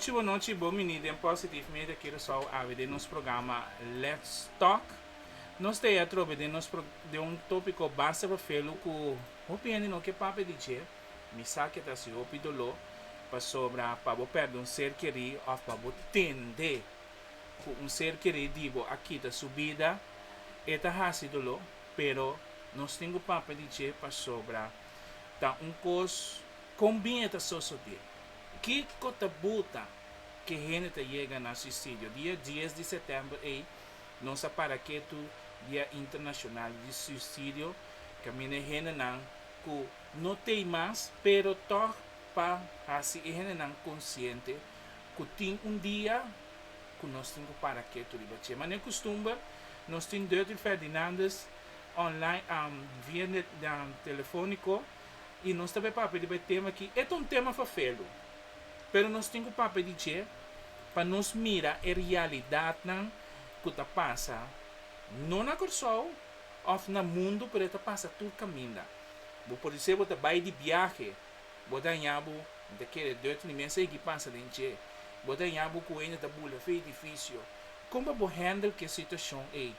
Nochi bo nochi bo mini den Positive Media Curaçao awe den nos programa Let's Talk. Nos ta e atrobe den nos pro den un topiko basta fafelu ku hopi hende no ke papia di dje. Mi sa ke ta hasi hopi doló pasobra pa bo pèrdè un ser kerí òf pa bo tende ku un ser kerí di bo a kita su bida e ta hasi doló, pero nos tin ku papia di dje pasobra ta un kos kon bin e ta sosodé. Kiko ta buta ke hende ta yega na suisidio? Dia dies di setèmber ei nos a para ketu Dia Internashonal di Suisidio kaminda e hendenan ku no tei mas pero tòg pa hasi e hendenan konsiente ku tin un dia ku nos tin ku para ketu riba dje. Manera kustumber nos tin Dirty Ferdinandus. online am via de den telefonico y nos ta bay papia riba e tema aki. E ta un tema fafelu pero nos tin cu papia di dje pa nos mira e realidadnan cu ta pasa no na Corsou of na mundo pero e ta pasa tur caminda. Bo por dice bo ta bay di biahe bo daña bo mi ta kere deuto ni mi a sigui pasa den dje bo daña bo cuenda ta bula fe edificio con pa bo handle cu e situacion ey?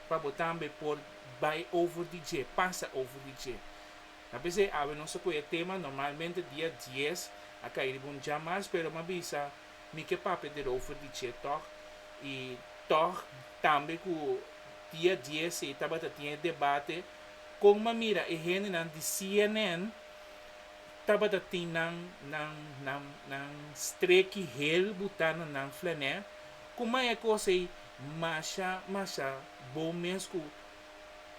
pa bo tambe por bai over di dje, pasa over di dje. Ta p'esei awe nos a kohe e tema, normalmente dia dies a kai riba un djamas, pero m'a bisa mi ke papia der over di dje tòg, i tòg tambe ku dia dies ei tabata tin e debate kon m'a mira e hendenan di CNN tabata tin nan nan nan nan streki hel buta na nan flanè, ku mai e kos ei Masha masha bo mes ku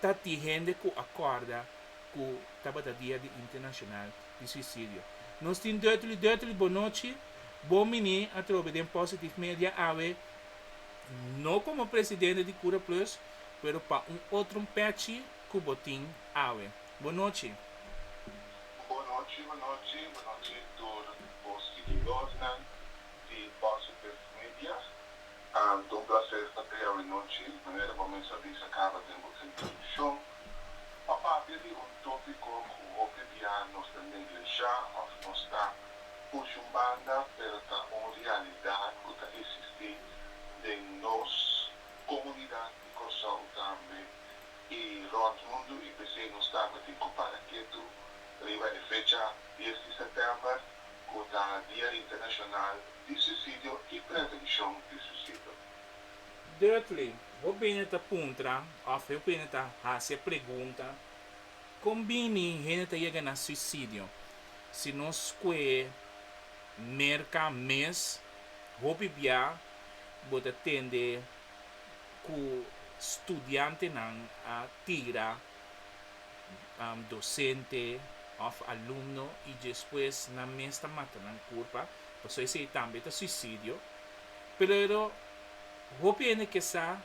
ta tin hende ku a kòrda ku tabata Dia di Internashonal di Suisidio. Nos tin dùtuli dùtuli bonochi bo mini atrobe den Positive Media awe, no komo presidente di Kura Plus, pero pa un otro pèchi ku bo tin awe. Bonochi. Bonochi bonochi bonochi tur bo siguidornan di Positive Media. Ahn, ta un placer ta bay awe nochi. Manera bo mester a bisa caba den bo introduccion. Pa papia di un topico cu hopi bia nos ta neglesha of nos ta push un banda pero ta un realidad cu ta existi den nos comunidad di Corsou tambe y rond mundo y p'esey nos tabatin cu para ketu riba e fecha dies di september. cu ta Dia Internacional di Suicidio y Prevencion di Suicidio. Dirkly, bo bini ta puntra of bo bini ta haci e pregunta, con bini hende ta yega na suicidio? Si nos scue merca mes hopi bia bo ta tende cu studiantenan a tira dosente of alumno y despues nan mes ta mata nan curpa paso esey tambe ta suicidio pero hopi hende ke sa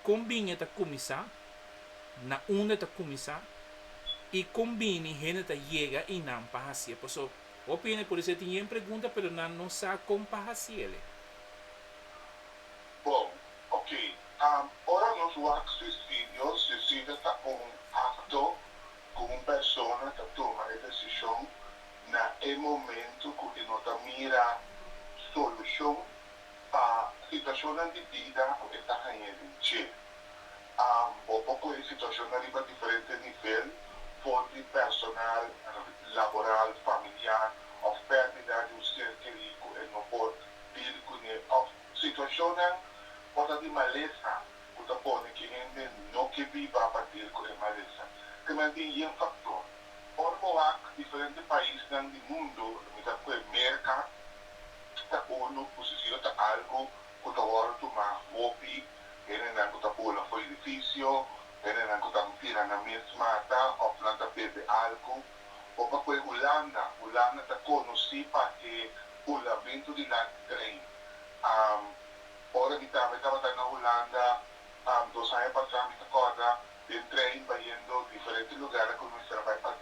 con bini e ta cuminsa na unda ta cuminsa y con bini hende ta yega y nan pa hacie paso hopi hende por dicié tin yen pregunta pero nan no sa con pa haciele. Bon. Ok, ora nos wak sisi Dios, sisi ta ta un acto cu un persona ta tuma e decision na e momento cu e no ta mira solucion pa situacionnan di bida cu e ta hañ'e den dje. Bo por coge situacionnan riba diferente nivel, for di personal, laboral, familiar of perdida di un ser keri cu e no por deal cune of Situacionnan por ta di malesa cu ta pone cu e hende no ke biba pa deal cu e malesa. Te mantin yen factor. Ora bo wak diferente paisnan di mundo, lo mitad cu e Merca, ta unu cu si sido ta algo cu ta worde tuma hopi hendenan cu ta bola for edificio, hendenan cu ta tira na mes mata of nan ta bebe algo. o pa koe Hulanda, Hulanda ta konosí pa e hulamentu di lati trei. Ora mi tamba, mi tabata na Hulanda dos aña pasá, mi ta kòrda den trein bayendo diferente lugar ku mi mester a bai pa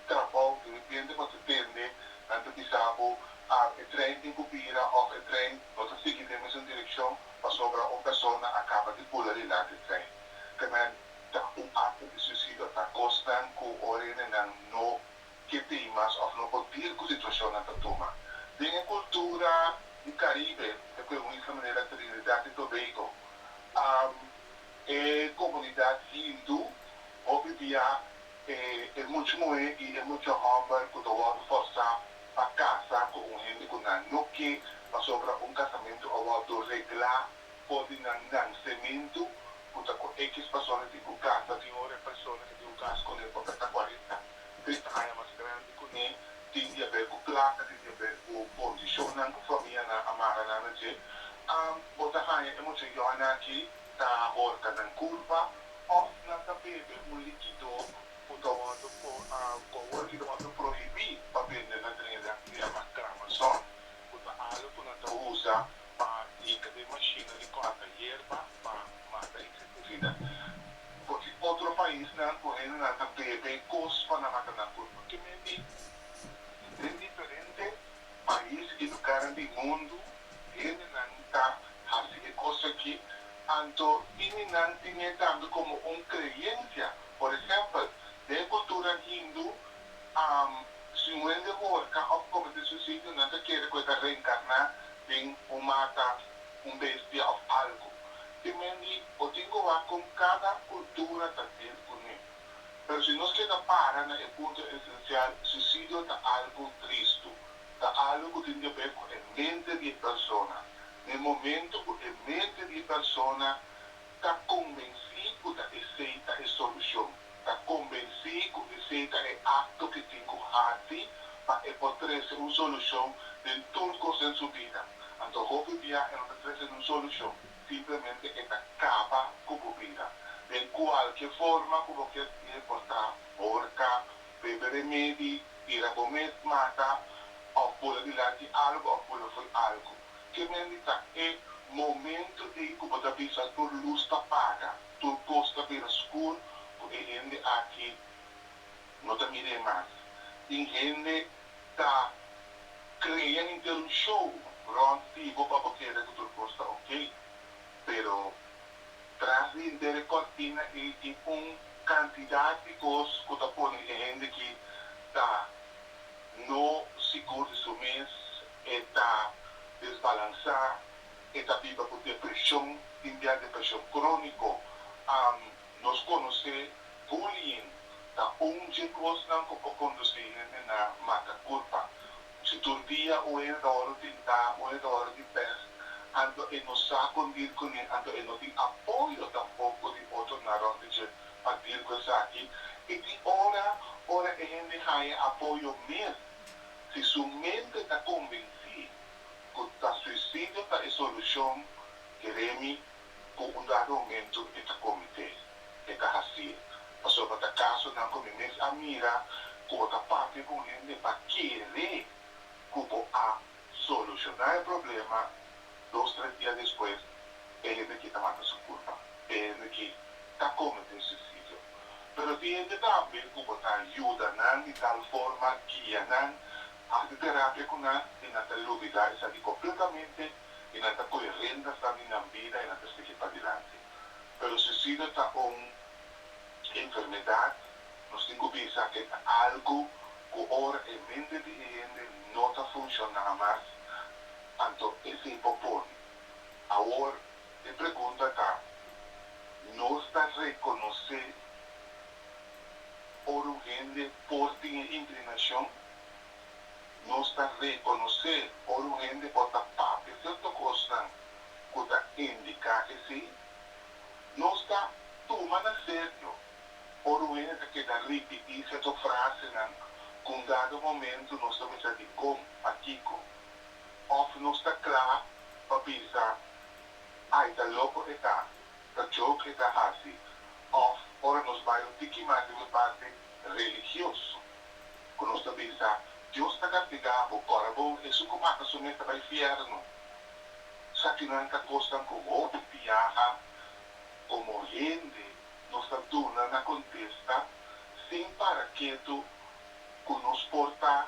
trabou, derepente bo ta tende nan ta bisa bo e trein tin ku bira òf e trein no ta sigui den mesun direkshon pasobra un persona a kaba di pula di lati trein. Te men. ta un akto di suisidio, ta kosnan ku ora enenan no ke pei mas òf no por dir ku situashonnan ta tuma. Den e kultura di Karibe, e ku e un isla manera Trinidat i Tobeigo, e komunidat hindu hopi bia e muchu muhé i e muchu hòmber ku ta wòrdu fòrsá pa kasa ku un hende ku nan no ke pasobra un kasamentu a wòrdu reglá for di nan nansementu ku ta ku X persona tin un kas, ta tin un repersona ke tin un kas kuné pa presta kuarenta, trinta aña mas grandi kuné, tin di haber ku plaka, tin di haber ku kondishonnan ku famianan a mara nan na dje, am bo ta haña e mucha yòina aki ta horka nan kurpa òf nan ta bebe un likidó ku ta wòrdu po, kòhor ki ta wòrdu prohibí pa bende na dren di aktividad mas gran masòr, ku ta algu ku nan ta usa pa yega den mashina di kòrta yerba pa mata insektisida. Konsi otro paisnan ku hendenan ta bebe kos pa na mata nan kurpa? Ke men di? Den diferente pais i lugarnan di mundu hendenan ta hasi e kos aki, anto ini nan tine tambe komo un kreensia. Por ehèmpel, den e kultura hindu, Si un hende horka òf komete suisidio, nan ta kere ku e ta reenkarná den un mata, un bestia òf algu. Te men di bo tin ku wak kon kada kultura ta dil kuné. Pero si nos keda para na e punto esensial, suisidio ta algu tristu. Ta algu ku tin di aber ku e mente di e persona. Na e momentu ku e mente di e persona Ta konvensí ku ta esei ta e solushon. Ta konvensí ku esei ta e akto ki tin ku hasi pa e por trese un solushon den tur kos den su bida. Anto hopi bia e no ta trese niun solushon, simplemente e ta kaba ku bo bida. Den kualke forma ku bo kier di e por ta horka, bebe remedi, bira bo mes mata, òf bula dilanti algu òf bula fo'i algu. Ke mendi ta e momento ei ku bo ta bisa tur lus ta paga, tur kos ta bira skur ku e hende aki no ta mir'é mas. Tin hende ta krea henter un show rònt di bo pa bo keda ku tur kos ta okey, pero tras di henter e kòrtina ei tin un kantidat di kos ku ta pone e hende ki ta no sigur di su mes E ta desbalansá, e ta biba ku depreshon tin dia depreshon króniko. Am, Nos konosé bullying ta un dje kosnan ku por kondusí hende na mata kurpa. Si tur dia un hende ta wòrdu tintá, un hende ta wòrdu di pès, anto e no sa kon dir kuné, anto e no tin apoyo tampoko di otronan rònt di dje pa dir ku esaki. E tin ora, ora e hende haña apoyo mes, Si su mente ta convencí cu ta suicidio ta e solucion, Jeremy cu un dado momento e ta comete, e ta hacié. Pasobra ta casonan cu mi mes a mira cu bo ta papia cu un hende pa kere cu bo a soluciona e problema Dos tres dia despues e hende ki ta mata su kurpa, e hende ki ta komet'é suisidio. Pero tin hende tambe ku bo ta yuda nan di tal forma, guia nan, hasi terapia ku nan i nan ta lubidá esaki kompletamente i nan ta kohe riendasnan di nan bida i nan ta sigui padilanti. Pero suisidio ta un enfermedat, nos tin ku bisa ke ta algu ku ora e mente di e hende no ta funshoná mas, Anto e fin por pone. Awor e pregunta ta, Nos ta rekonosé ora un hende por tin e inklinashon? Nos ta rekonosé ora un hende por ta papia sierto kosnan ku ta indiká ke sí? Nos ta tuma na serio ora un hende ta keda ripití sierto frasenan ku un dado momentu nos ta bisa dikon, pa kiko? Of nos ta kla pa bisa, Ai, ta loko e ta, ta joke e ta hasi. Of ora nos bai un tiki mas riba e parti religioso, ku nos ta bisa, Dios ta kastigá bo, kòrda bon, esun ku mata su mes ta bai fièrnu. Sakinan ta kosnan ku hopi biaha komo hende nos ta duna na kontesta sin para ketu ku nos por ta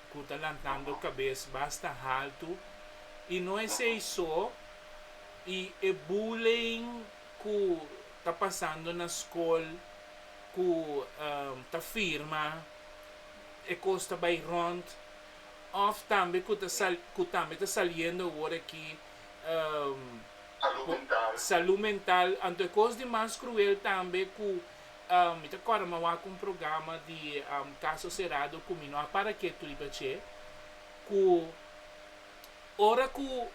ku ta lantando kabes basta haltu i no esei so i e bullying ku ta pasando na skol ku ta firma e kos ta bai rònt òf tambe ku ta ku tambe ta saliendo awor aki salú mental anto e kos di mas kruel tambe ku Mi ta corda ma wak un programa di Caso Cerrado cu mi no a para kiet riba dje, cu ora cu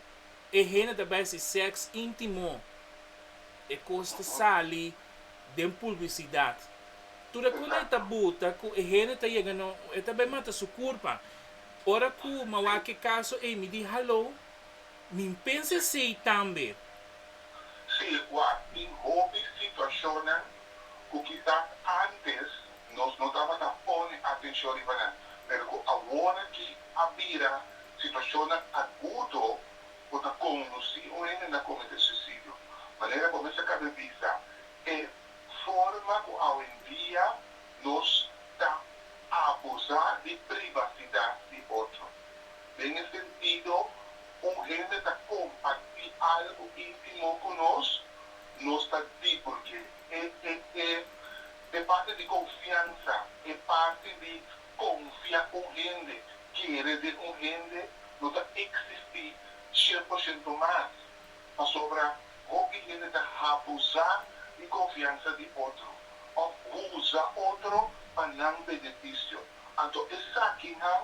e hende ta besi sex intimo e cos ta sali den publicidad. Tur e cunda e ta buta cu e hende ta yega no e ta bay mata su curpa. Ora cu ma wak e caso ey mi di hallo Min pensa esei tambe. Si e ku a tin hopi situashonnan ku kisas antes nos no tabata pone atenshon riba nan, pero ku aworaki a bira situashonnan agudo ku ta kondusí un hende na kometé suisidio. Manera bo mester kabe bisa e forma ku awendia nos ta abusá di privasidat di otro. Den e sentido, un hende ta kompartí algu íntimó ku nos, nos ta di por ke e e e e parti di konfiansa, e parti di konfia un hende, kere den un hende, lo ta eksistí shen por shento mas. Pasobra hopi hende ta habusá di konfiansa di otro òf usa otro pa nan benefisio. Anto esaki nan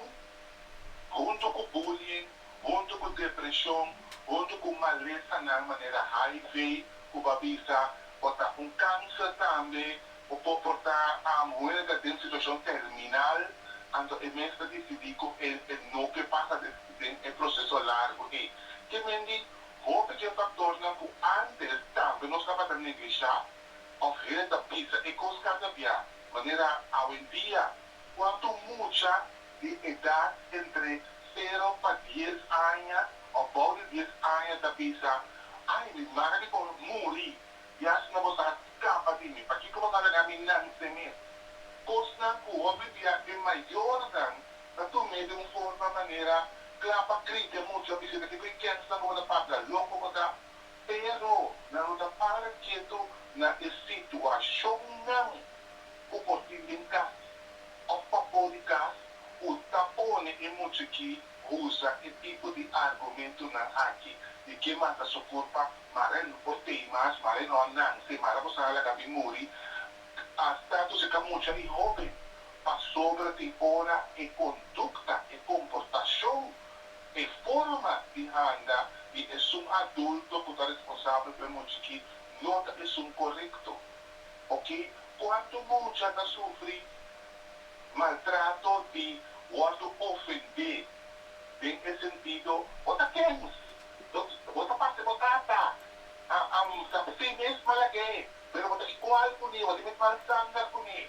huntu ku bullying, huntu ku depreshon, huntu ku malesanan manera HIV ku bo a bisa o ta un kanser tambe, bo por por ta huega den situashon terminal, anto e mester disidí ku e no ke pasa den e proseso largu ei. Ke men di hopi di e faktornan ku ántes tambe nos tabata neglishá òf heret a bisa e kos kasa bia, manera awendia Cuantu un mucha di edad entre sero pa dies aña o bou di dies aña ta bisa, Ay, mi mari por muri, y asina bo sa scapa di mi. Pakico bo ta laga mi nance mi? Cosnan cu hopi bia e mayornan ta tum'e di un forma manera cla pa crite e mucha bisita kico e kensnan cu bo ta papia, loco bo ta. Pero nan lo ta para ketu na e situacionnan. ku por tin den kas òf pa bo di kas ku ta pone e muchekí usa e tipo di argumentunan aki di ke mata su kurpa mara e por tei mas mara e no a nanse mara bo sa a laga mi muri asta tu si ka mucha i hóben pasobra tin ora e kondukta e komportashon e forma di handa di esun adulto ku ta responsabel pa e muchekí no ta esun korekto Ok, cuanto mucha ta sufri maltrato di wordo ofende den e sentido bo ta kens, bo ta parse bo tata, am sa si mes malag'é pero bo ta igual kuni, bo ta met mal sanga kuni,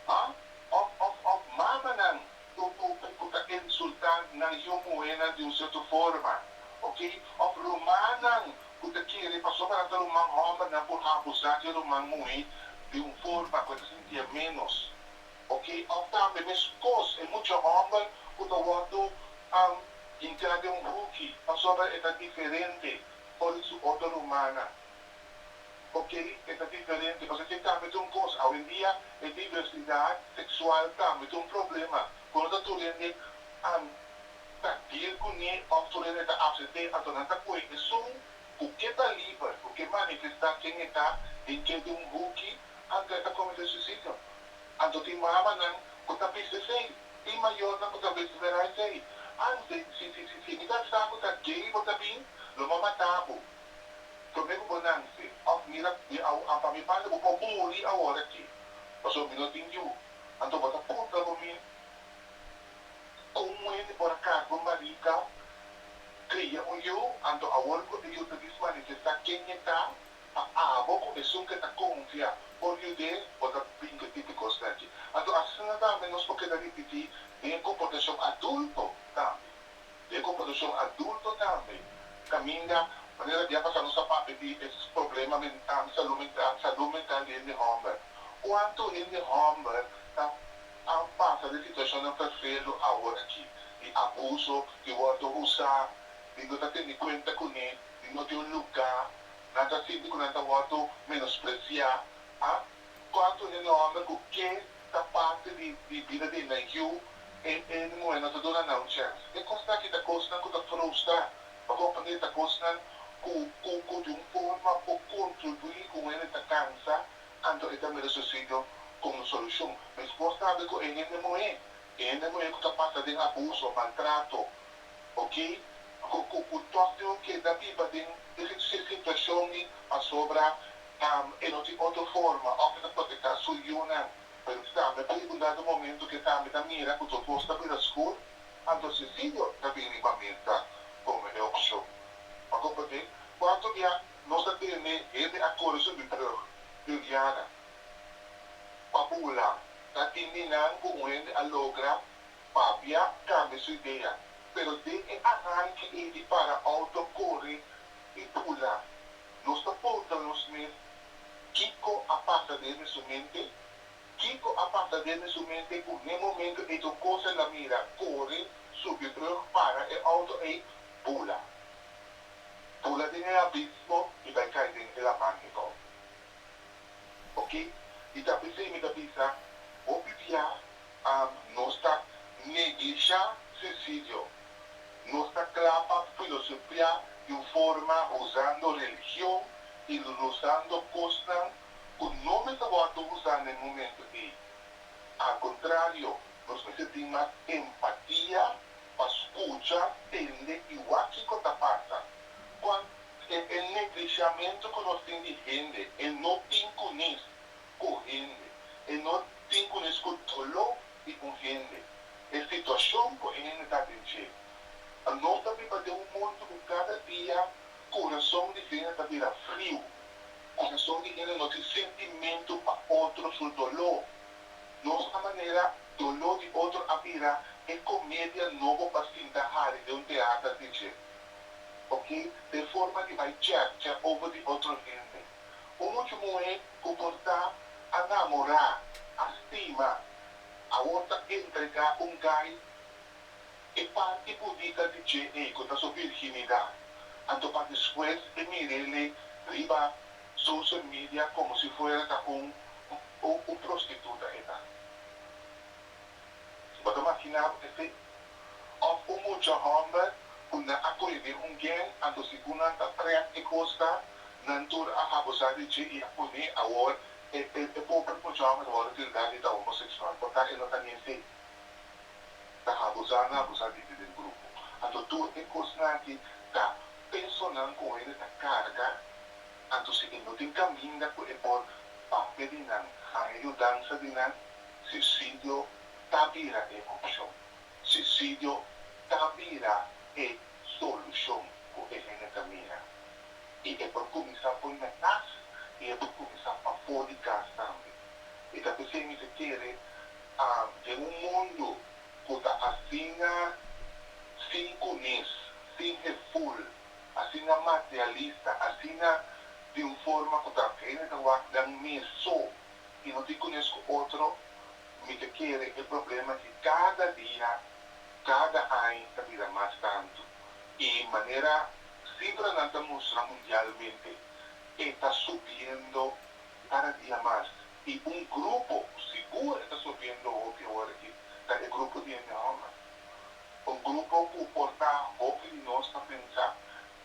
ha? Of of of mamanan ku ku ku ta insulta nan yu muhénan di un cierto forma, ok, of rumannan Cu ta kere pasobra nan ta ruman homber nan por abusa di e ruman muhe di un forma cu e ta sintia menos ok of tambe mescos e mucha homber cu ta wordo hinca den un huki pasobra e ta diferente for di su otro rumannan ok e ta diferente pasobra kier tambe ta un cos awendia e diversidad sexual tambe ta un problema cu no ta tur hende ta dil cu ni autoridad ta ACT anto nan ta coe esun cu ke caliber, cu ke manifesta ken e ta den ke di un hoekie antes ta comete suicidio. Anto tin mamanan cu ta bist esey, tin mayornan cu ta bist mera esey. An si si si si si mi ta sa cu ta gay bo ta bin, lo ma mata bo. Prome cu bo nanse of mira di awo an pa mi pande bo por muri awor aki. Paso mi no tin yu. Anto bo ta puntra bo mi. Kon muhé di por a karga un barika, kria un yu, anto awor ku e yu ta dismanifestá ken e ta, pa abo ku esun ke ta konfia por yud'é bota binka tipi kos naki. Anto asina tambe nos por keda ripití den e komportashon adulto tambe. Den e komportashon adulto tambe, kaminda manera bia pasá nos ta papia di e problema mental, salú mental, salú mental di hende hòmber. Kuantu hende hòmber ta An pasa di situashonnan perfedo aworakí di abuso di wòrdu usá i no ta tene kuenta kuné i no tin un lugá. Nan ta sinti ku nan ta wòrdu menospresiá. A Kòrtu e nòmber ku ke ta parti di bida di e nan yu e e muhé no ta duna nan un chèns. E kosnan akí ta kosnan ku ta frustra pa kompra e ta kosnan ku ku di un forma por kontribuí ku muhé ta kansa Anto e ta mira suicidio como un solucion. Mesfor sabi cu e hende muhe, e hende muhe cu ta pasa den abuso, maltrato, ok, cu cu cu toch tin un keda biba den e situacion mi pasobra e no tin otro forma of e ta proteca su yunan. Pero kisa mi pregunta den momento cu esa mi ta mira cu tur cos ta bira oscur, anto suicidio ta bini riba mesa como e opcion. Pa comprende, cuanto bia nos ta tene hende a kore subi brug den Viana pa bula, ta tin di nan ku un hende a logra papia kambia su idea, pero den e aranki ei di para outo, kore i bula, nos ta puntra nos mes, Kiko a pasa den e su mente? Kiko a pasa den e su mente ku n'e momento ei ku kos el a mira, kore, subi brug, para e outo ei, bula? Pula den e abismo mi bai cay den e laman e cor. Ok y ta pesey mi ta bisa hopi bia am nos ta neglisha suicidio nos ta cla pa filosofia di un forma usando religion y losando cosnan cu no mester wordo usa na e momento ey al contrario nos mester tin mas empatia pa skucha, tende i wak kiko ta pasa. Kwan e neglishiamentu ku nos tin di hende, e no tin kunis ku hende, e no tin kunis ku doló di un hende, e situashon ku e hende ta den dje. Nos ta biba den un mundu ku kada dia kurason di hende ta bira friu. Kurason di hende no tin sentimentu pa otro su doló. Nos a manera doló di otro a bira e comedia nobo pa sinta hari den un teater di dje. Ok, t'e forma di bai chèkchè over di otro hende. Un muchu muhé cu por ta a namorá, a stima, awor ta entregá un gai e parti budica di dje ei cu ta su virginidad, anto pa despues e mir'e lei riba. social media como si fuera ta un un prostituta e ta. Bo ta makina bo esei? Of un mucha homber cu nan a coge den un gang anto si cu nan ta trap e cos ta nan tur a abusa di dje y a pone awor e e pobre mucha homber a worde tilda di ta homosexual por ta e no ta ni esei ta abusa nan abusa di den grupo anto tur e cosnan aki ta Personan ku hende ta karga, anto si e no tin kaminda ku e por papia di nan haña yudansa di nan, suisidio ta bira e opshon. Suisidio ta bira e solushon ku e hende ta mira. I e por kuminsá poi na kas i e por kuminsá pafó di kas tambe. E ta p'esei mi ta kere den un mundu ku ta asina sin kunis, sin heful, asina materialista, asina di un forma ku ta hende ta wak den mi so i no tin kunis ku otro, mi ta kere e problema di kada dia, kada añ ta bira mas tantu. I manera sifranan ta mustra mundialmente e ta subiendo kada dia mas. I un grupo ku sigur e ta sobiendo hopi ora aki ta e grupo di e neomber. Un grupo ku por ta hopi di nos ta pensa,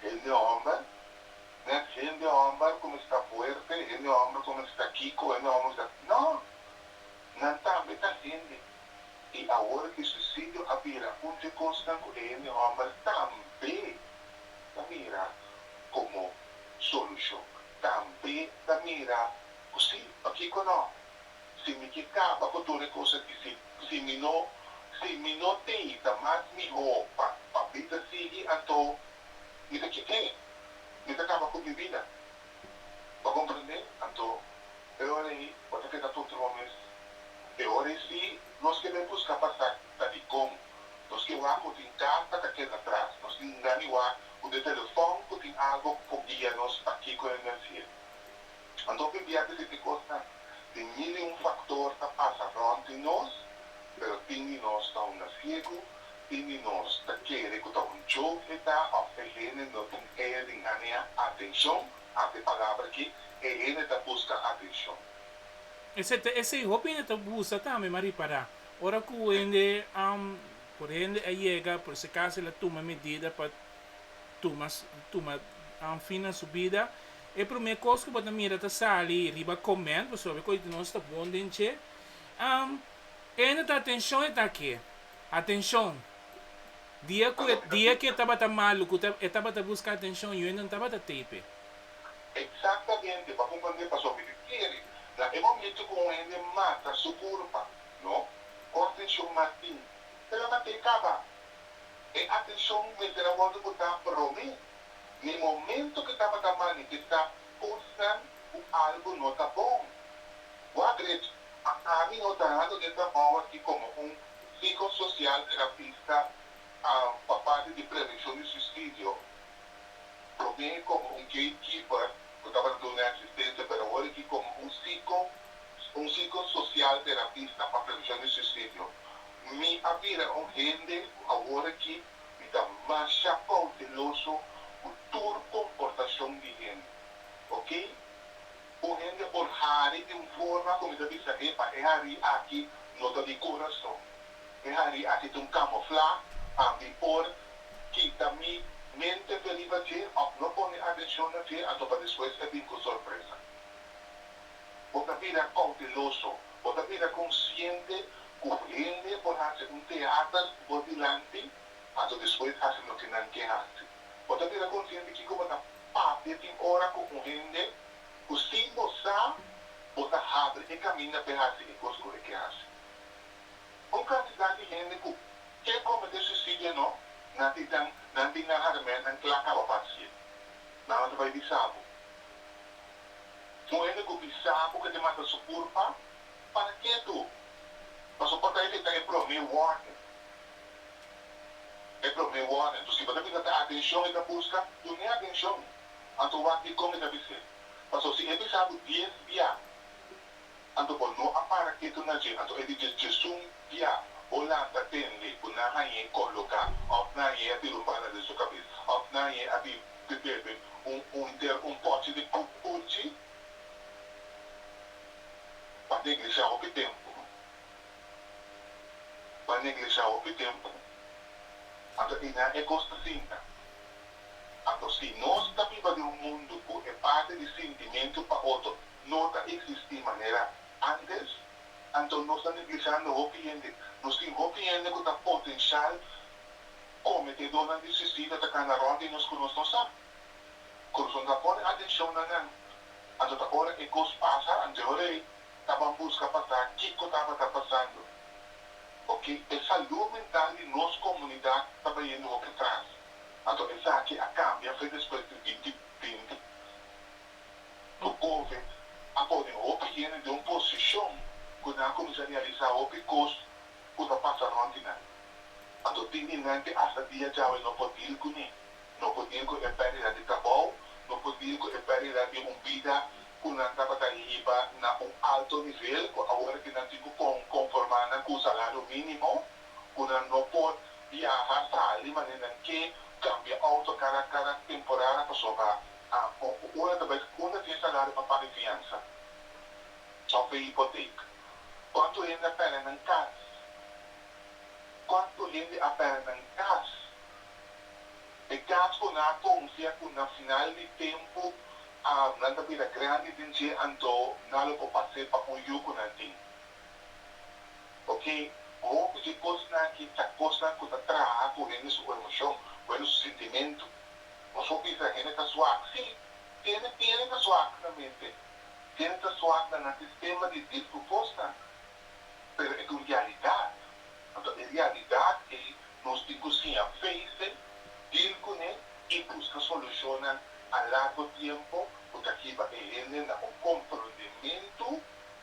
Hende homber, net hende homber ku mester fuerte, hende homber ku mester kiko, hende homber ku mester. No! Nan tambe ta hende. I awor aki suisidio a bira un di e kosnan ku e hende homber tambe ta mira komo solushon. tambe ta mira cu si, pakico no? Si mi ke caba cu tur e cosa di si, si mi no, si mi no deita mas miho pa, pa bida sigui, anto mi ta ke ke? Mi ta caba cu mi bida. Bo comprende? Anto, e ora ey, bo ta keda puntra bo mes, e ora ey si nos ke bay busca pa sa ta dicon nos ke wak cu tin cas pa ta keda tras, nos tin gani wak cu di telefon cu tin algo cu guia nos pa kico e mencia. Anto biblia ta dici cosnan di mil y un factor ta pasa rond di nos, pero tin di nos ta un naciego, tin di nos ta kere cu ta un joke e ta of e hende no tin eer di nganea atencion, hasi e palabra aki, e hende ta busca atencion. Esey ta esey, hopi hende ta busa tambe ma ripara ora cu hende Por hende a yega, por esacas el a tuma medida pa tuma tuma fin na su bida. E prome cos cu bo ta mira ta sali riba comment, pasobra e cos di nos ta bon den dje. Hende ta atencion e ta aki, atencion. Dia cu e dia cu e tabata malo, cu ta e tabata busca atencion, yo ainda no tabata tape. Exactamente, bo a comprende pasobra yo kere na e momento cu un hende mata su curpa, No. Concepcion Martin, Te labat'é caba. E atencion mester a wordo cu ta promé. N'e momento cu tabata manifestá cosnan cu algo no ta bon. Wak Gret, Ma ami no ta hando n'e trabao aki como un psicosocial terapista pa parti di prevencion di suicidio. Probé como un gatekeeper cu tabata duna asistencia pero awor aki como un psico un psico social terapista pa prevencion di suicidio. Mi a bira un hende cu awor aki mi ta masha cauteloso cu tur comportacion di hende. Ok. Un hende por hari di un forma cu mi ta bisa epa e hari aki no ta di corazon. E hari aki ta un kamoflá pa mi por kita mi mente te riba dje òf no pone atenshon na dje anto pa despues e bin ku sorpresa. Bo ta bira kouteloso, bo ta bira konsiente ku hende por hasi un teater bo dilanti anto despues hasi loke nan ke hasi. Bo ta bira konsiente kiko bo ta papia tin ora ku un hende ku sin bo sa bo ta habri e kaminda p'e hasi e kos ku e ke hasi. Un kantidat di hende ku ke kometé suisidio no na titán nan tin nan haramennan kla kaba pa hasié. Nan lo ta bai bisá bo. Un hende ku bisá bo ke te mata su kurpa, parak'é tu? Pasobra bo ta efektá e promé wòrning. E promé wòrning. Anto si bo ta bisa ta atenshon e ta buska, tur n'e atenshon. Anto wak dikon e ta bis'é. Pasobra si e bisá bo dies biaha, Anto bo no a para ketu na dje, anto e di dje, Djesun, bia, bo lanta tende ku nan hañ'é koloká, òf nan hañ'é a tira un bala den su kabes, òf nan hañ'é a bin di bebe un hunter un pòchi di pup urchi pa neglishá hopi tempu, pa neglishá hopi tempu. Anto i nan e kos ta sinta. Anto si nos ta biba den un mundu ku e parti di sintimentu pa otro no ta existi manera antes, anto nos ta neglijando hopi hende. Nos tin hopi hende cu ta potencial cometedonan di suicidio atacando rond di nos cu nos no sa. Con nos no ta pone atencion na nan, anto ta ora e cos pasa anteorei taban busca pa sa kico tabata pasando. Ok, e salud mental di nos comunidad ta bayendo hopi atras, anto esaki a cambia fe despues di binti binti. Bo hoben a pone hopi yende den un posishon ku nan a kuminsá realisá hopi kos ku ta pasa rònt di nan. Anto tin di nan ku asta dia djawe no por dil ku mi, no por dil ku e pèrdida di trabou, no por dil ku e pèrdida di un bida ku nan tabata hiba na un alto nivel ku awor aki nan tin ku konformá nan ku salario mínimo, ku nan no por biaha, sali, manera nan ke, kambia outo kada temporada pasobra. A Bo ku ora ta bai unda di e salario pa paga fiansa òf e hipotek? Kuantu hende a pèrdè nan kas? Kuantu hende a pèrdè nan kas? E kas ku nan a konfia ku na final di tempu nan ta bira grandi den dje anto nan lo por pas'é pa un yu ku nan tin. Oke, hopi dje kosnan aki ta kosnan ku ta traha ku hende su emoshon, bueno su sentimentu. Nos por bisa hende ta suak? Sí, tene tene ta suak na mente, tene ta suak na nan sistema di disku kosnan, pero e ta un realidat. Anto e realidat ei nos tin ku siña fe'se, dil kuné i buska solushonnan a largo tiempo ku ta hiba e hende na un komprondementu.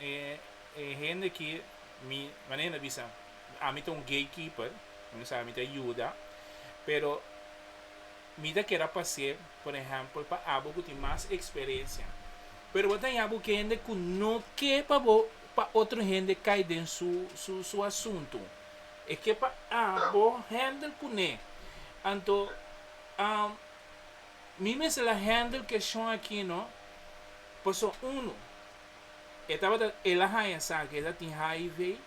E hende ki mi, manera na bisa, ami ta un gatekeeper, mi no sabe, mi ta yuda, pero mi ta keda pas'é, por ehèmpel, pa abo ku tin mas eksperensia. Pero bo ta haña bo ke hende ku no ke pa bo, pa otro hende kai den su, su, su asuntu. E ke pa abo hèndel kuné. Anto, am, mi mester la hèndel keshon akí, no? Paso, unu, E tabata el a haña sa ke el a tin hiv.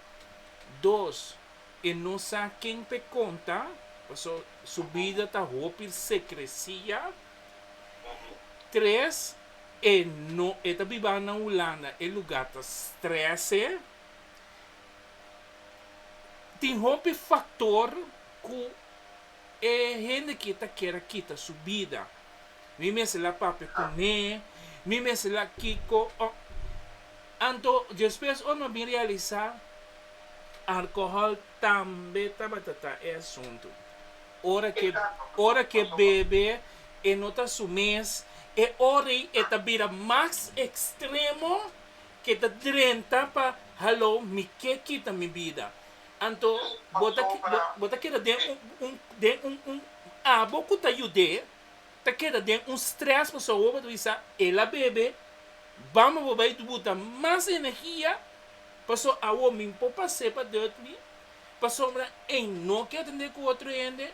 Dos, e no sa ken p'e konta, paso su bida ta hopi sekresia. Tres, e no e ta biba na Hulanda, e luga ta strese. Tin hopi faktor ku E hende ki ta kier a kita su bida, mi mester la papia con he, mi mester la kico, oh. Anto despues ora mi a bin realisa, alcohol tambe tabata ta e asunto. Ora ke, ora ke bebe e no ta su mes, e ora ei e ta bira mas extremo, ke ta drenta pa, hallo, mi ke kita mi bida. Anto bo ta bo ta keda den un un den un un abo ku ta yud'é ta keda den un strès pasobra bo bo ta bisa el a bebe bamba bo bai buta mas energia pasobra awor mi por pas'é pa dòt mi pasobra ein no ke atendé ku otro hende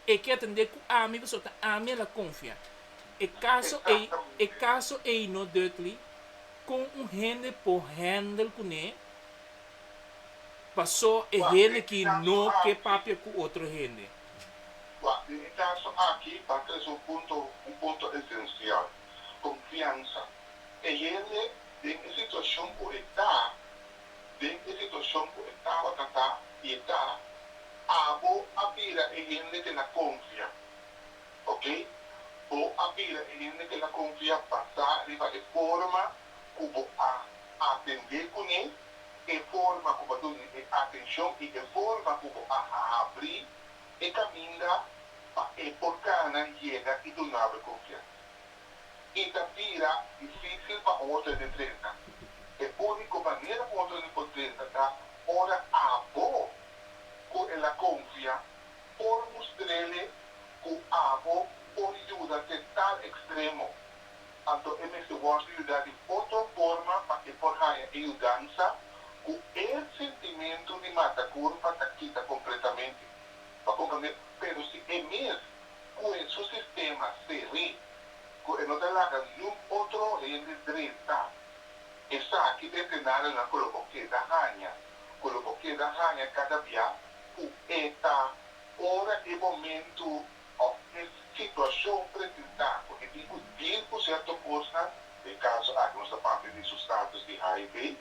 e ke atendé ku ami pasobra ta ami el a konfia e kaso ei e kaso ei no dòt li kon un hende por hèndel kuné. Paso e hende ki no ke papia ku otro hende. Wak, den e kaso aki ta trese un punto, un punto esensial, konfiansa. E hende den e situashon ku e ta, den e situashon ku e tabata ta i e ta abo a bira e hende ke na konfia. Oke, bo a bira e hende ke na konfia basá riba e forma ku bo a atendé kuné, e forma ku bo ta uni e atenshon i e forma ku bo a habri e kaminda pa e por kana yega i duna bo e konfiansa. I ta bira difísil pa un otrende drenta. E úniko manera un otrende por drenta ta ora abo ku el a konfia por mustr'é ku abo por yuda te tal ekstremo Anto e mester wòrdu yudá di otro forma pa e por haña e yudansa ku e sintimentu di mata kurpa ta kita kompletamente. Pa komprondé, pero si e mes ku e su sistema seré, ku e no ta laga ningún otro hende drenta, esaki ta e señalnan ku lo por keda haña, ku lo por keda haña kada bia ku e ta ora e momentu òf e situashon presentá ku e tin ku dil ku sierto kosnan, den kaso aki nos ta papia di su status di hiv,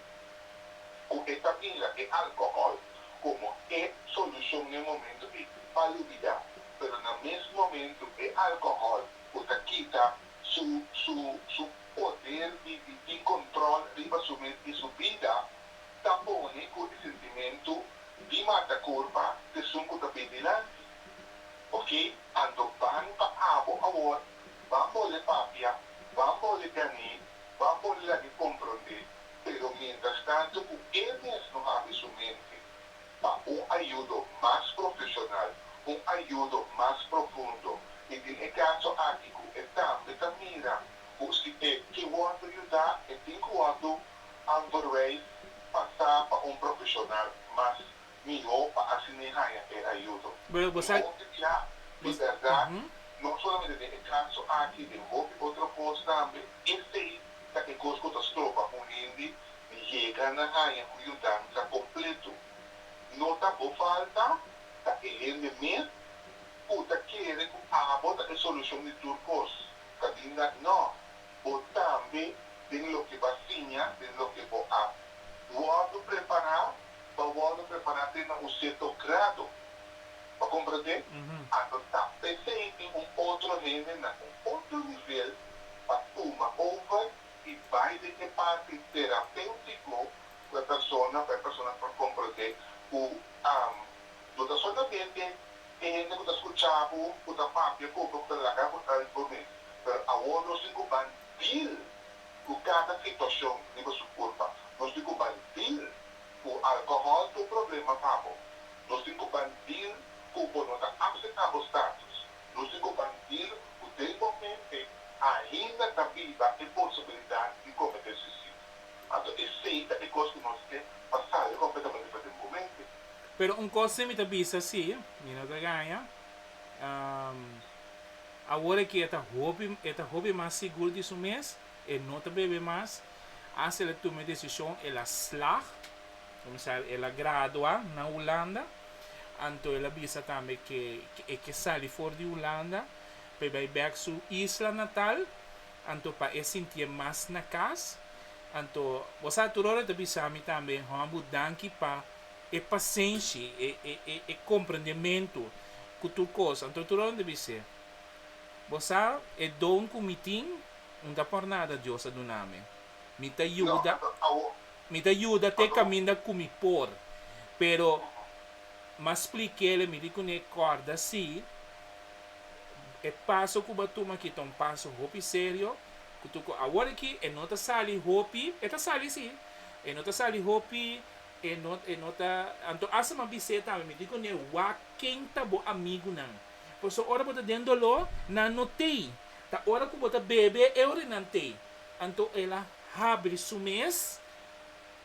ku e ta mira e alkohòl komo e solushon n'e momentu ei pa lubidá, pero na mes momentu e alkohòl ku ta kita su su su poder di di tin kontròl riba su mes i su bida, ta pone ku e sentimentu di mata kurpa t'esun ku ta bin dilanti. Ok ando ban pa abo awor ban bole papia ban bole gané ban bole la mi comprondé pero mientras tanto cu e mes no abi su mente pa un ayudo mas profesional un ayudo mas profundo y tin e caso aki cu e tambe ta mira cu si e ke wordo yuda e tin cu wordo anverwijs pasa pa un profesional mas mihó pa asina e haña e ayudo. Bueno, bo sa, Hopi bia, bo di s, bèrdat, ujú. no solamente den e kaso aki, den hopi otro kos tambe, esei ta e kos ku ta stroba un hende di yega na haña un yudansa kompletu. No ta bo falta, ta e hende mes ku ta kere ku abo ta e solushon di tur kos. Kaminda, nò, bo tambe, den loke b'a siña, den loke bo a wòrdu prepará, pa wòrdu prepará te na un sierto grado. Pa komprondé anto ta pelei di un otro hende na un otro nivel pa tuma over i bai den e parti terapéutiko ku e persona, pa e persona por komprondé ku no ta solamente e hende ku ta skuchá bo, ku ta papia ku bo ku ta laga bo algu mes, pero awor nos tin ku ban dil. ku kada situashon riba su kurpa. Nos tin ku ban dil ku alkohòl ta un problema pa bo. Nos tin ku ban dil ku bo no ta apseptá bo status. Nos tin ku ban dil ku den bo mente ainda ta biba e posibilidat di kometé suisidio. Anto esei ta e kos ku nos ke pa sali kompletamente for den bo mente. Pero un kos mi ta bisa si, mi no ta gaña. Awor e ke e ta hopi e ta hopi mas sigur di su mes, e no ta bebe mas, hasta el a tuma e desishon, el a slag, kende sa el a gradua na Hulanda, anto el a bisa tambe ke e ke sali for di Hulanda pa e bai bek su isla natal, anto pa e sintié mas na kas, anto bo sa tur ora e ta bisa mi tambe, Hòmbu, danki pa. e pasenshi, e e e e komprendementu ku tur kos. Anto tur awe mi ta bis'é, Bo sa e don ku mi tin? Un ta por nada Dios a duna mi. Mi ta yuda, mi ta yuda te kaminda ku mi por. Pero mi a splik'é, mi di kuné, Kòrda si, e paso ku bo a tuma aki ta un paso hopi serio, ku tur ko awor aki e no ta sali hopi, e ta sali si, e no ta sali hopi E no e no ta anto asa ma bisé tambe mi di ku ne wak ken ta bo amigunan paso ora bo ta den doló nan no tei ta ora ku bo ta bebe e ora nan tei anto el a habri su mes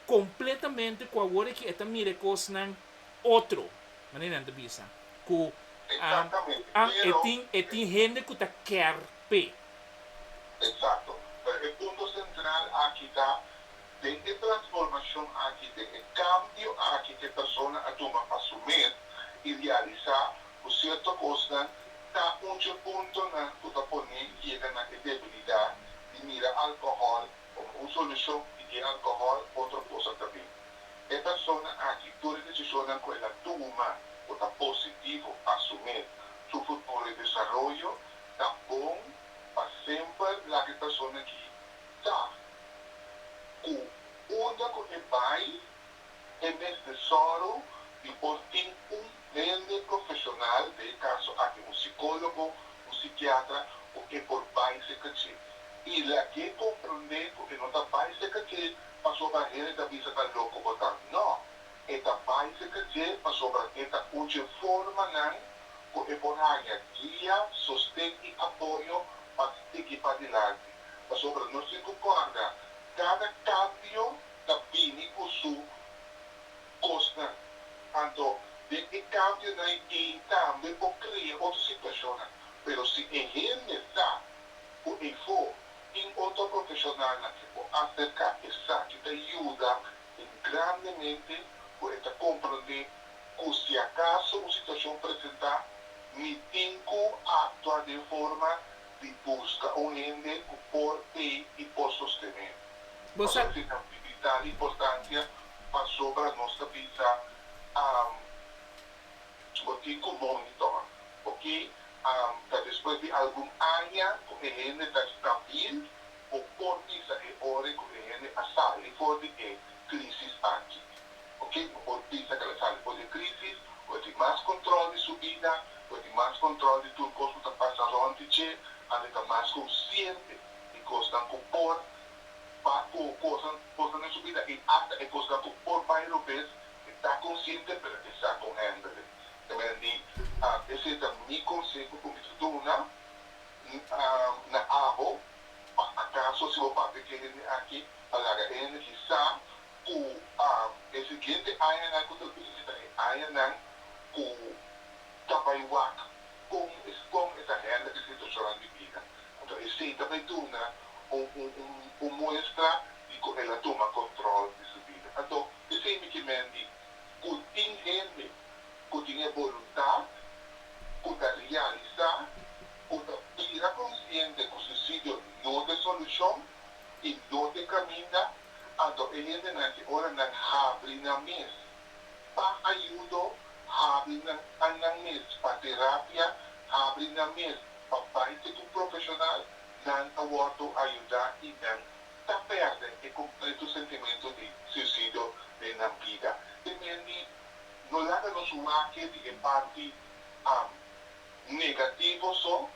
kompletamente ku awor aki e ta mira e kosnan otro manera nan ta bisa ku Exactamente a e pero tin e tin hende ku ta kèr p'e. Exacto pero e punto central aki ta Den e transformashon aki, den e kambio aki ke persona a tuma pa su met i realisá ku sierto kosnan, ta un dje puntonan ku ta pon'é yega na e debilidat di mira alkohòl komo un solushon i e alkohòl otro kosa ta bin. E persona aki tur e desishonnan ku el a tuma ku ta positivo pa su met, su futuro i desaroyo ta bon pa semper. Laga e persona ki ta ku unda ku e bai e mes tesoro di por tin un hende profeshonal, den e kaso aki un sikólogo, un sikiatra, ku e por bai seka dje. I lag'é komprondé ku e no ta bai seka dje pasobra hende ta bisa ta loko bo ta. Nò, e ta bai seka dje pasobra e ta uche formanan ku e por haña guia, sosten i apoyo pa sigui padilanti. pasobra nos tin ku kòrda kada kambio ta bini ku su kosnan. Anto den e kambionan ei tambe por krea otro situashonnan. Pero si e hende sa ku eifo tin otro profeshonalnan ke por aserká esaki ta yuda en grandemente ku e ta komprondé ku si akaso un situashon presentá mi tin ku aktua den forma di buska un hende ku por ei i por sostené. Nos a tika di tal importansia pasobra nos ta bisa, Am, bo tin ku moni tuma. Oke, am, ta despues di algun aña ku e hende ta stabil bo por bisa e ora ku e hende a sali for di e krísis aki. Cu ke cu por bisa cu lo sali for di crisis? Lo tin mas control di su bida, lo tin mas control di tur cos cu ta pasa rond di dje, a lo ta mas consciente di cosnan cu por ba coho cosnan cosnan den su bida y hasta e cosnan cu por bay robes, e ta consciente pero e sa con handele. Ta mira di ese ta mi conseho cu mi ta duna na abo pa acaso si bo papia ke hende aki a laga e hende ki sa, ku e siguiente añanan ku ta bini ta e añanan ku ta bai wak kon es kon e ta hèndel e situashonnan di bida. Anto esei ta bai duna un muestra di ku el a tuma kòntròl di su bida. Anto esei mikimente ku tin hende ku tin e boluntat ku ta realisá ku ta bira konsiente ku suisidio no ta e solushon i donde caminda, anto e hendenan di ora nan habri nan mes pa ayudo, habri nan annan mes pa terapia, habri nan mes pa bay te cu profesional, nan ta wordo ayuda i nan ta perde e completo sentimento di suicidio den nan bida. Te men di no laga nos wake di e parti negativo so.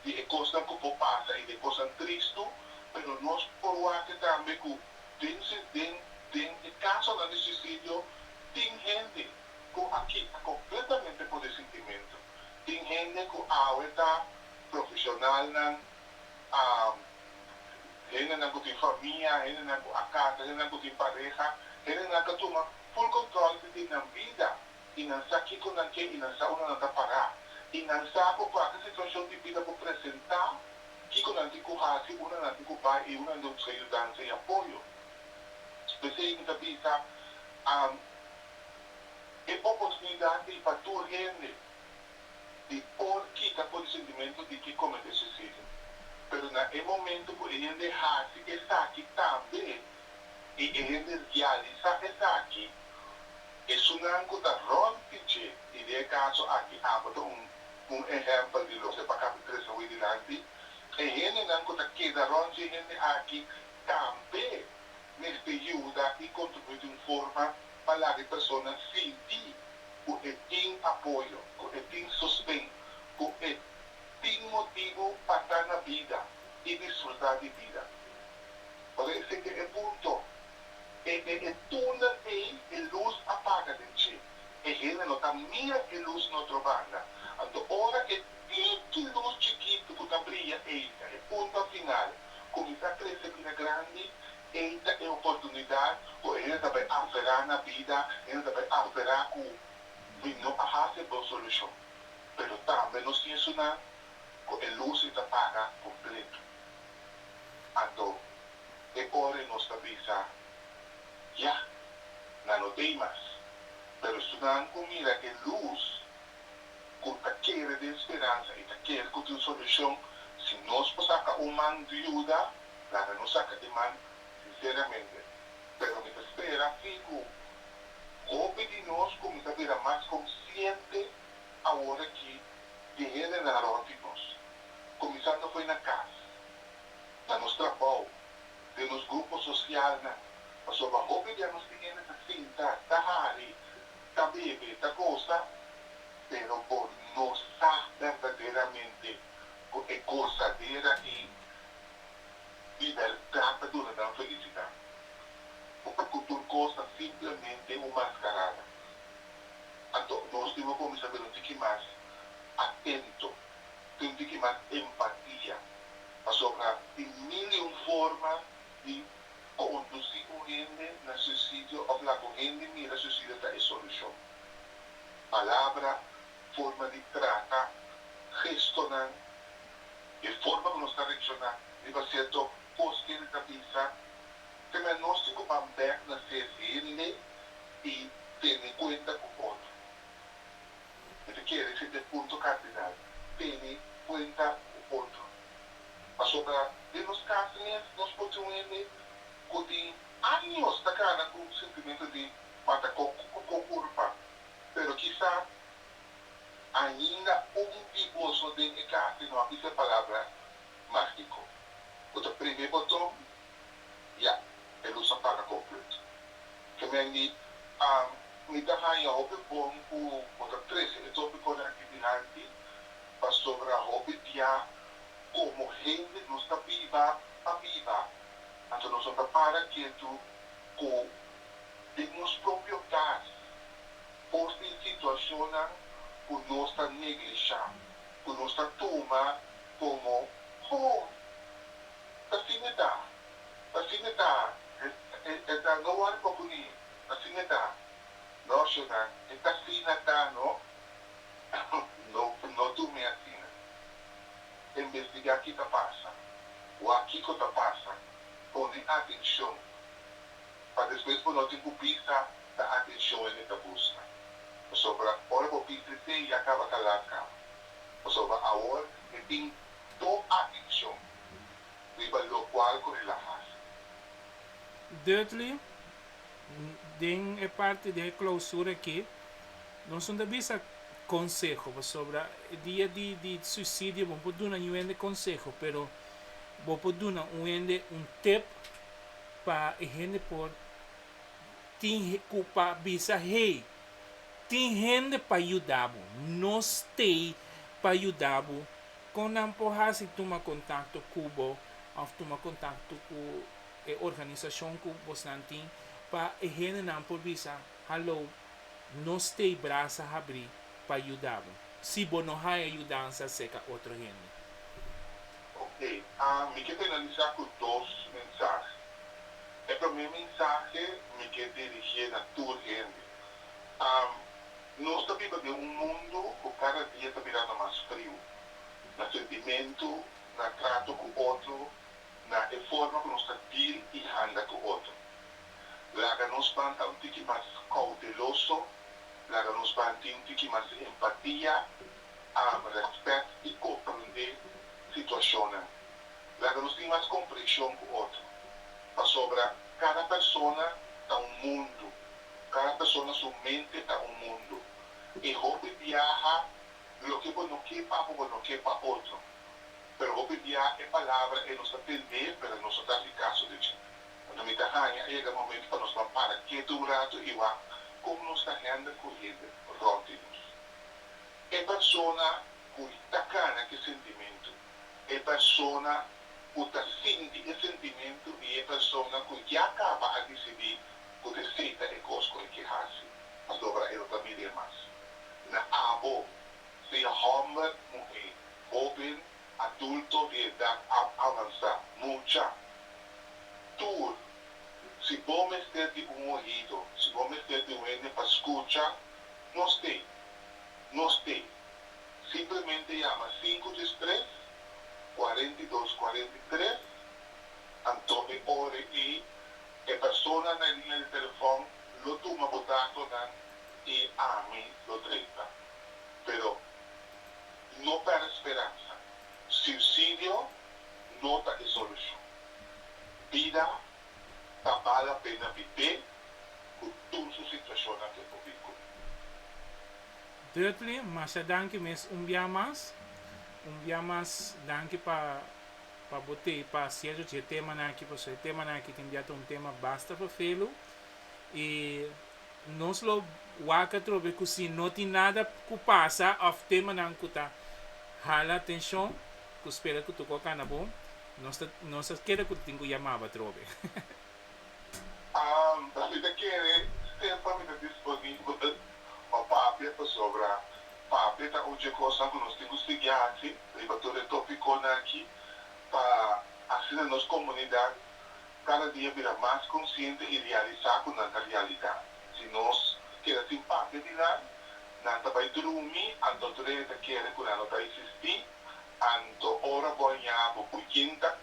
di e kosnan ku bo pasa i di e kosnan tristu, pero nos por wak tambe ku den si den den e kasonan di suisidio tin hende ku a kita kompletamente ku de sintimentu, tin hende ku awe ta profeshonalnan, a hendenan ku tin famia, hendenan ku a kasa, hendenan ku tin pareha, hendenan ku a tuma ful kontròl di nan bida. i nan sa kiko nan ke i nan sa unda nan ta pará. I nan sa ku kualke situashon di bida ku presentá, kiko nan tin ku hasi, unda nan tin ku bai i unda nan debe buska yudansa i apoyo. P'esei mi ta bisa e oportunidat ei pa tur hende di por kita por e sentimentu di ke kometé suisidio. Pero na e momentu ku e hende hasi esaki tambe i e hende rialisá esaki, Esunnan ku ta ròmpi dje idea kaso aki amo ta un un ehèmpel di loke pa kapin trese awé dilanti. E hendenan ku ta keda rònt dje hende aki tambe mester yuda i kontribuí di un forma pa laga e persona sinti ku e tin apoyo, ku e tin sosten, ku e tin motibu pa ta na bida i disfrutá di bida. Ora esei ta e punto. E den e túnel ei e lus a paga den dje. E hende no ta mira e lus den otro banda. Anto ora e tiki lus chikitu ku ta bria ei ta e punta final, kuminsá krese bira grandi, ei ta e oportunidat ku e hende ta bai aferá na bida, hende ta bai aferá ku mi no a hasi e bon solushon. Pero tambe nos tin esun nan ku e lus ei ta paga kompletu. Anto e ora nos ta bisa, Ya, nan no t'ei mas. Pero estunan ku mira e lus ku ta kere den speransa i ta kere ku tin solushon, si nos por saka un man di yuda, laga nos saka e man sinseramente. Pero mi ta spera fin ku hopi di nos ku mi ta bira mas konsiente aworakí deh'e renderá roba tin nos, kuminsando fo'i na kas, na nos trabou, den nos grupo sosialnan, pasobra hopi di anos tin hende ta sinta, ta hari, ta bebe, ta gosa, pero bo no sa berdaderamente ku e gosadera ei di bèrdat ta duna nan felisidat ò ku tur kos ta simplemente un maskarada. Anto nos tin por kuminsá bira un tiki mas atento. tin di kibá empatia, pasobra tin mil i un forma di kondusí ku hende na suisidio òf laga un hende mira suisidio ta e solushon. Palabra, forma di trata, gestonan, e forma ku nos ta reakshoná riba sierto kos ku hende ta bisa, te mester nos tin ku ban bèk na ses hende i tene kuenta ku otro. e ta kere fin den punto kardinal, tene kuenta ku otro. Pasobra den nos kasamen nos por tin un hende ku tin años ta kana ku sentimentu di mata kon ku ku kulpa, pero kisa ainda un di boso den e kas tin no a bisa e palabra mágiko ku ta prende e boton Ya, e lus a paga komplet. Kemen di, Am, mi ta haña hopi bon ku bo ta trese e topi kos aki dilanti, pasobra hopi bia komo hende nos ta biba pa biba, anto nos no ta para ketu ku den nos propio kas por tin situashonnan ku nos ta neglishá, ku nos ta tuma komo, Ho! Asin e ta. Asin e ta. E ta no wòrdu pa puni. Asin e ta. No, Shona, e ta asina ta no. No, no durmi asina. E nbestiga ki ta pasa. Wak kiko ta pasa. Pone atenshon. Pa despues bo no tin ku bisa ta atenshon el e ta buska. Pasobra ora bo bisa esei ya kaba kalas kaba. Pasobra awor e tin Do atencion riba locual cu Rila haci. Dudley, Den e parti di e clausura aki, nos no ta bisa conseho, pasobra e dia di di suicidio bo no por duna niun hende conseho, pero bo por duna un hende un tip pa e hende por tin cu pa bisa, Hey, tin hende pa yuda bo, no stay pa yuda bo Con nan por haci tuma contacto cu bo of tuma contacto cu e organisacion cu bosnan tin pa e hendenan por bisa, Hallo, nos t'e brasa habri pa yuda bo si bo no haya yudansa seca otro hende. Ok, mi ke finalisa cu dos mensahe. E prome mensahe mi ke dirigie na tur hende. Nos ta biba den un mundu ku kada dia ta mirando mas friu, na sentimentu, na trato ku otro, na e forma ku nos ta dil i handa ku otro. Laga nos ban ta un tiki mas koudeloso, laga nos ban tin un tiki mas empatia, am, rèspèt i komprondé situashonnan. Laga nos tin mas komprehshon ku otro, pasobra kada persona ta un mundu. Cada persona su mente ta un mundo. E hopi biaha loke bo no ke pa bo, bo no ke pa otro. Pero hopi biaha e palabra e nos ta tende pero e nos no ta haci caso di dje. Anto mi ta haña a yega e momento pa nos ban para ketu un rato y wak con nos ta hende cu hende rond di nos. E persona cu ta cana ki sentimento. e persona ku ta sinti e sentimentu i e persona ku ya kaba a disidí ku ta seita e kos ku e ke hasi pasobra e no ta mid'é mas. Na abo, sea hòmber, muhé, hóben, adulto di edat avansá, mucha, tur, si bo mester di un ohido, si bo mester di un hende pa skucha, nos t'é. Nos t'é. Simplemente yama sinku djes tres, cuarenta y dos, cuarenta y tres, anto e ore y e persona na e liña di telefon lo tuma bo datonan y ami lo treta. Pero no pèrdè speransa, suicidio no ta e solucion. Bida ta bala pena bibé cu tur su situacionnan ke por bin cu mi. Dudley, masha danki mes un bia mas, un bia mas danki pa pa bo tei pa siello dje tema nan aki paso e tema nan aki tin bia ta un tema basta pa felu y nos lo wak atrobe cu si no tin nada cu pasa of tema nan cu ta hala atencion cu spera cu tuco cana bo nos ta nos ta keda cu tin cu yamaba atrobe. Mi ta kere semper mi ta disponibel pa papia pasobra papia ta un dje kosnan ku nos tin ku sigui hasi riba tur e topikonnan aki pa asina nos komunidat kada dia bira mas konsiente i realisá ku nan ta realidat. Si nos keda sin papia di nan, nan ta bai drumi anto tur e ta kere ku nan no ta eksistí, anto ora bo a ña bo puñinta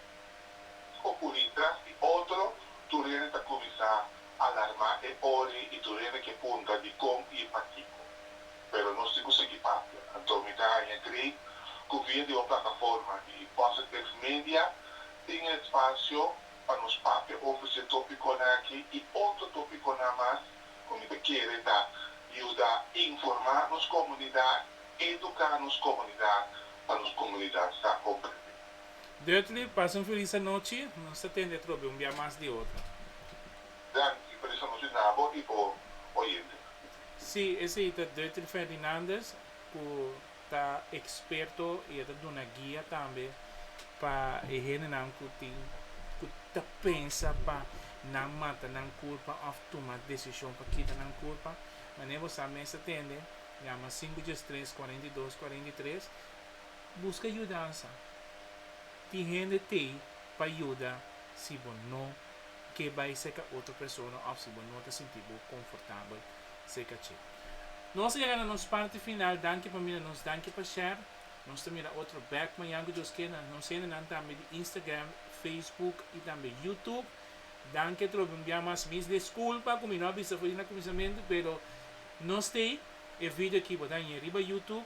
Scocuri tras di otro, tur hende ta cuminsa alarma e ori y tur hende ke punta di con y pakico. Pero nos tin cu sigui papia. Anto mi ta haña cree cu via di un plataforma di Positive Media tin e espacio pa nos papia over dje topiconan aki y otro topiconan mas cu mi ta kere ta yuda informa nos comunidad, educa nos comunidad pa nos comunidad sa comprende. Dudley, Pasa un felis anochi, nos ta tende trobe un bia mas di otro. Danki, felis anochi na bo i bo oyentenan. Sí, esei ta Dudley Ferdinandez ku ta eksperto i e ta duna guia tambe pa e hendenan ku tin ku ta pensa pa nan mata nan kulpa òf tuma desishon pa kita nan kulpa. Manera bo sa mes ta tende, yama sinku dies tres kuarenta i dos kuarenta i tres Buska yudansa. Tin hende t'ei pa yuda si bo no ke bai serka otro persona òf si bo no ta sinti bo konfortabel serka dje. Nos a yega na nos parti final. Danki pa mira nos, danki pa share. Nos ta mira otro bèk mañan ku Dios kenda. Nos hendenan tambe di Instagram, Facebook i tambe YouTube. Danki atrobe un bia mas. Mis deskulpa ku mi no a bisa for di na kuminsamentu, pero nos t'ei e video aki bo dañ'e riba YouTube.